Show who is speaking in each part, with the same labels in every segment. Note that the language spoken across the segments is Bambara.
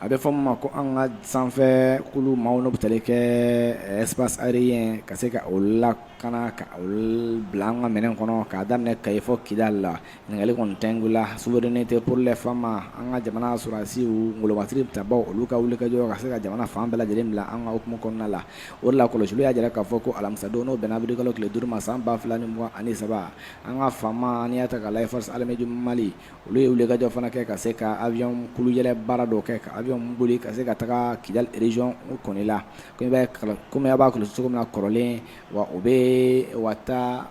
Speaker 1: a bɛ fɔ' ma ko an ka sanfɛ kulu maaw n bɛ tali kɛ espace aérien ye ka se ka o la ka ka bila an ka minɛn kɔnɔ ka daminɛ ka fɔ kidali la ɲininkali kɔni tɛ la souveraineté pour les FAMa an ka jamana sɔrɔdasi golobasiri bɛ taa olu ka wulikajɔ ka se ka jamana fan bɛɛ lajɛlen bila an ka hokumu kɔnɔna la o la kɔlɔsi y'a jira k'a fɔ ko alamisadon n'o bɛnna awirilikalo tile duuru ma san ba fila mugan ani saba an ka FAMa n'i y'a ta k'a lajɛ force armée du mali olu ye wulikajɔ fana kɛ ka se ka avion kulu yɛrɛ baara dɔw kɛ ka avion boli ka se ka taga kidali région kɔnɔ la kɔmi b'a kɔlɔsi cogo min na kɔrɔlen wa o bɛ wa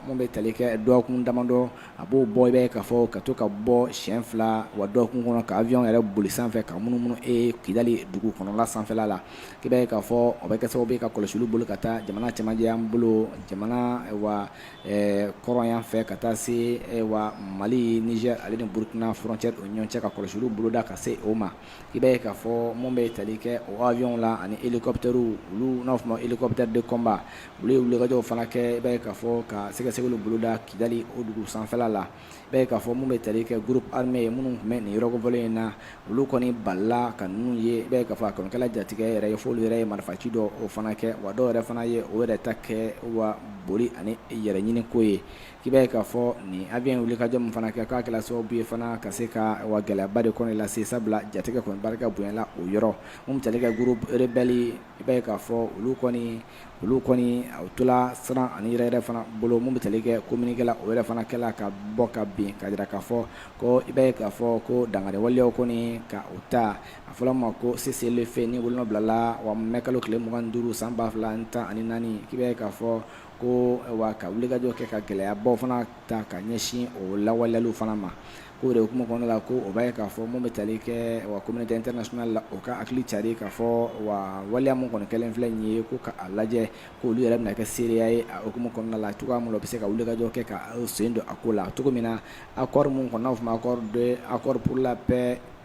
Speaker 1: minnu bɛ tali kɛ dɔgɔkun damadɔ a b'o bɔ i b'a ye k'a fɔ ka to ka bɔ siɲɛ fila wa dɔgɔkun kɔnɔ ka avionw yɛrɛ boli sanfɛ ka munumunu kidali dugu kɔnɔla sanfɛla la i b'a ye k'a fɔ o bɛ kɛ sababu ye ka kɔlɔsi boloda ka taa jamana cɛmancɛ yan bolo jamana wa ɛɛ kɔrɔn yan fɛ ka taa se wa mali nizɛri ale ni burukina frontière o ni ɲɔgɔn cɛ ka kɔlɔsi olu boloda ka se o ma i b'a ye k'a fɔ minnu bɛ tali kɛ o avion la ani hélicoptèrew olu n'a f'a ma hélicoptère de combat olu ye wulikajɔw fana kɛ i b'a ye k'a fɔ ka sɛgɛsɛgɛli boloda kidali o dugu sanfɛla la i b'a ye k'a fɔ minnu bɛ tali kɛ groupe armé ye minnu tun bɛ nin yɔrɔ kofɔlen in na, olu kɔni balila ka ninnu ye, i b'a ye k'a fɔ a kɔni kɛla jatigɛ yɛrɛ ye, f'olu yɛrɛ ye marifaci dɔw fana kɛ, wa dɔw yɛrɛ fana ye o yɛrɛ ta kɛ wa boli ani yɛrɛ ɲini ko ye, k'i b'a ye k'a fɔ nin avion in wulikajɔ min fana kɛ k'a kɛla sababu ye fana ka se ka wa gɛlɛyaba de kɔni lase, sabula jatigɛ kɔni barika bonyana o yɔrɔ, minnu bɛ tali kɛ groupe rebelle i b'a ye k'a fɔ olu kɔni olu kɔni u tola siran ani yɛrɛyɛrɛ fana bolo minnu bɛ tali kɛ communiqué la o yɛrɛ fana kɛla ka bɔ ka bin k'a jira k'a fɔ ko i b'a ye k'a fɔ ko dankari waleyaw kɔni ka u ta a fɔra ma ko cessez-le-feu n'o bolonɔ bilala wa mai kalo tile mugan ni duuru san ba fila ani tan ani naani k'i b'a ye k'a fɔ ko wa ka wulikajɔ kɛ ka gɛlɛyabaw fana ta ka ɲɛsin o lawaleyaliw fana ma K'o de hokumu kɔnɔna la ko o b'a ye k'a fɔ mun bɛ tali kɛ wa communauté internationale la o ka hakili cari k'a fɔ wa waleya mun kɔni kɛlen filɛ nin ye ko u ka a lajɛ k'olu yɛrɛ bɛna kɛ seereya ye a hokumu kɔnɔna la cogoya mun na u bɛ se ka wulikajɔ kɛ ka u sen don a ko la cogo min na accord mun kɔni n'a bɛ f'ɔ ma accord de accord pour la paix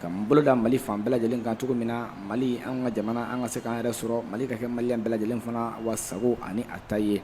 Speaker 1: ka nin boloda mali fan bɛɛ lajɛlen kan cogo min na mali an ka jamana an ka se k'an yɛrɛ sɔrɔ mali ka kɛ malien bɛɛ lajɛlen fana wasago ani a ta ye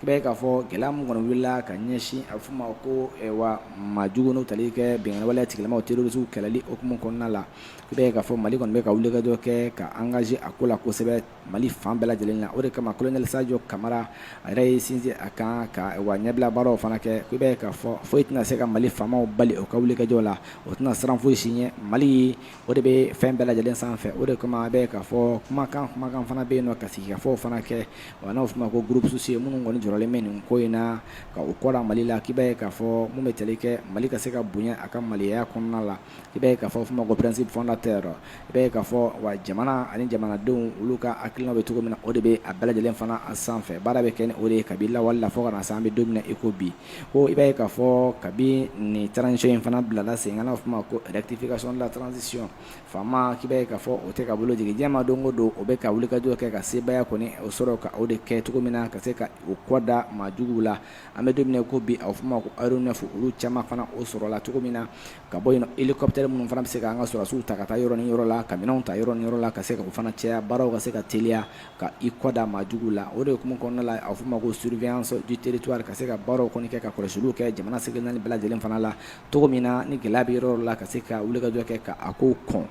Speaker 1: k'i b'a ye k'a fɔ gɛlɛya min kɔni wulila ka ɲɛsin a bɛ f'o ma ko wa maa jugu n'u tali kɛ binkanni waleya tigilamaw terrorisiw kɛlɛli o hukumu kɔnɔna la k'i b'a ye k'a fɔ mali kɔni bɛ ka wulikajɔ kɛ ka engagé a ko la kosɛbɛ Mali fan bɛɛ lajɛlen na o de kama kolonɛli sajɔ kamara a yɛrɛ y'i sinsin a kan ka wa ɲɛbila baaraw fana kɛ k'i b'a ye k'a fɔ foyi tɛna se ka mali faamaw bali o ka wulikajɔ la o tɛna siran foyi si ɲɛ mali o de bɛ fɛn bɛɛ lajɛlen sanfɛ o de kama i b'a ye k'a fɔ kumakan kumakan fana bɛ yen n'u ka sigikafɔ fana kɛ wa n'aw tun ko groupuscule ye minnu kɔni jɔrɔlen bɛ nin ko in na ka u kɔrɔ mali la k'i b'a ye k'a fɔ minnu bɛ tali kɛ mali ka se ka bonya a ka maliya kɔnɔna la i b'a ye k'a fɔ a fɔ ma ko principe fondateur i b'a ye k'a fɔ wa jamana ani jamanadenw olu ka hakilina bɛ cogo min na o de bɛ a bɛɛ lajɛlen fana a sanfɛ baara bɛ kɛ ni o de ye kabini lawale la fɔ ka na se an bɛ don min na i ko bi ko i b'a ye k'a fɔ kabini transition in fana bilala sen kan a fɔ ma ko rectification de la transition FAMa k'i b'a ye k'a fɔ o tɛ ka bolo jigi jɛma don o don o bɛ ka wulikajɔ kɛ ka sebaaya kɔni o sɔrɔ ka o de kɛ cogo min na ka se ka u kɔ da maajugu la an bɛ don min i ko bi a fɔ ma ko aɛronɛfu olu caman fana o sɔrɔla cogo min na ka bɔ hélicoptère minnu fana bɛ se ka an ka sɔrɔdasiw ta ka taa yɔrɔ ni yɔrɔ la ka minɛn ta yɔrɔ ni yɔrɔ la ka se ka o fana cɛya baaraw ka se ka teliya ka i kɔ da maajugu la o de tun kɔnɔna la a fɔ ma ko surveillance du territoire ka se ka baaraw kɔni kɛ ka kɔlɔsisiw kɛ jamana seleke naani bɛɛ lajɛlen fana la cogo min na ni gɛlɛya bɛ yɔrɔ la ka se ka wulikajɔ kɛ ka a ko kɔn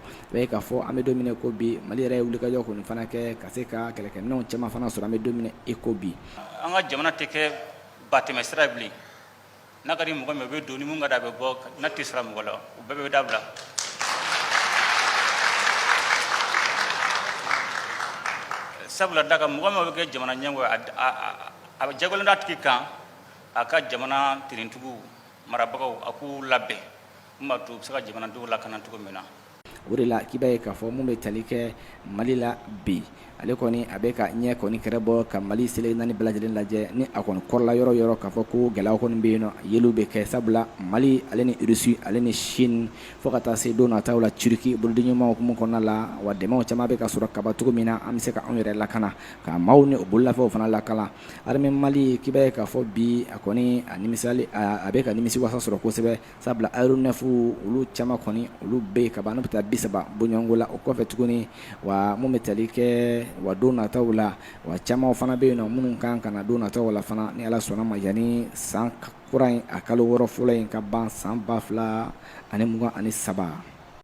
Speaker 1: k'a fɔ an bɛ don ko bi mali yɛrɛ ye wulikajɔ kɔni fana kɛ ka se ka kɛlɛkɛminɛnw caman fana sɔrɔ an bɛ don i ko bi an ka jamana tɛ kɛ ba tɛmɛsira bilen n'a ka di mɔgɔ min o bɛ don ni mun ka da a bɛ bɔ n'a t'i sara mɔgɔ la o bɛɛ bɛ dabila sabula da ka mɔgɔ min bɛ kɛ jamana ɲɛmɔgɔ ye a bɛ jagoyalen d'a tigi kan a ka jamana finitigiw marabagaw a k'u labɛn Bɛ se ka jamana dugu lakana cogo min na o de la k'i b'a ye k'a fɔ minnu bɛ tali kɛ mali la bi ale kɔni a bɛ ka ɲɛ kɔni kɛra bɔ ka mali seleke naani bɛɛ lajɛlen lajɛ ni a kɔni kɔrɔla yɔrɔ yɔrɔ k'a fɔ ko gɛlɛya kɔni bɛ yen ye bɛ kɛ sabula mali ale ni irisi ale ni sini fo ka taa se don nata la turki bolodiɲɔgɔnmaw minnu kɔnɔna la wa dɛmɛw caman bɛ ka sɔrɔ ka ban cogo min na an bɛ se ka anw yɛrɛ lakana ka maaw ni o bololafɛnw fana lakana armée mali k'i b'a ye k'a fɔ bi a kɔni a a bɛ ka nimisiwasa sɔrɔ kosɛbɛ Sabula aɛronɛfu olu caman kɔni olu bɛ yen ka ban bɛ taa bi saba bɔɲɔgɔnko la o kɔfɛ tuguni wa minnu bɛ tali kɛ wa don nataw la wa caman fana bɛ yen na minnu ka kan ka na don nataw la fana ni ala sɔnna a ma yani san kura in a kalo wɔɔrɔ fɔlɔ in ka ban san ba fila ani mugan ani saba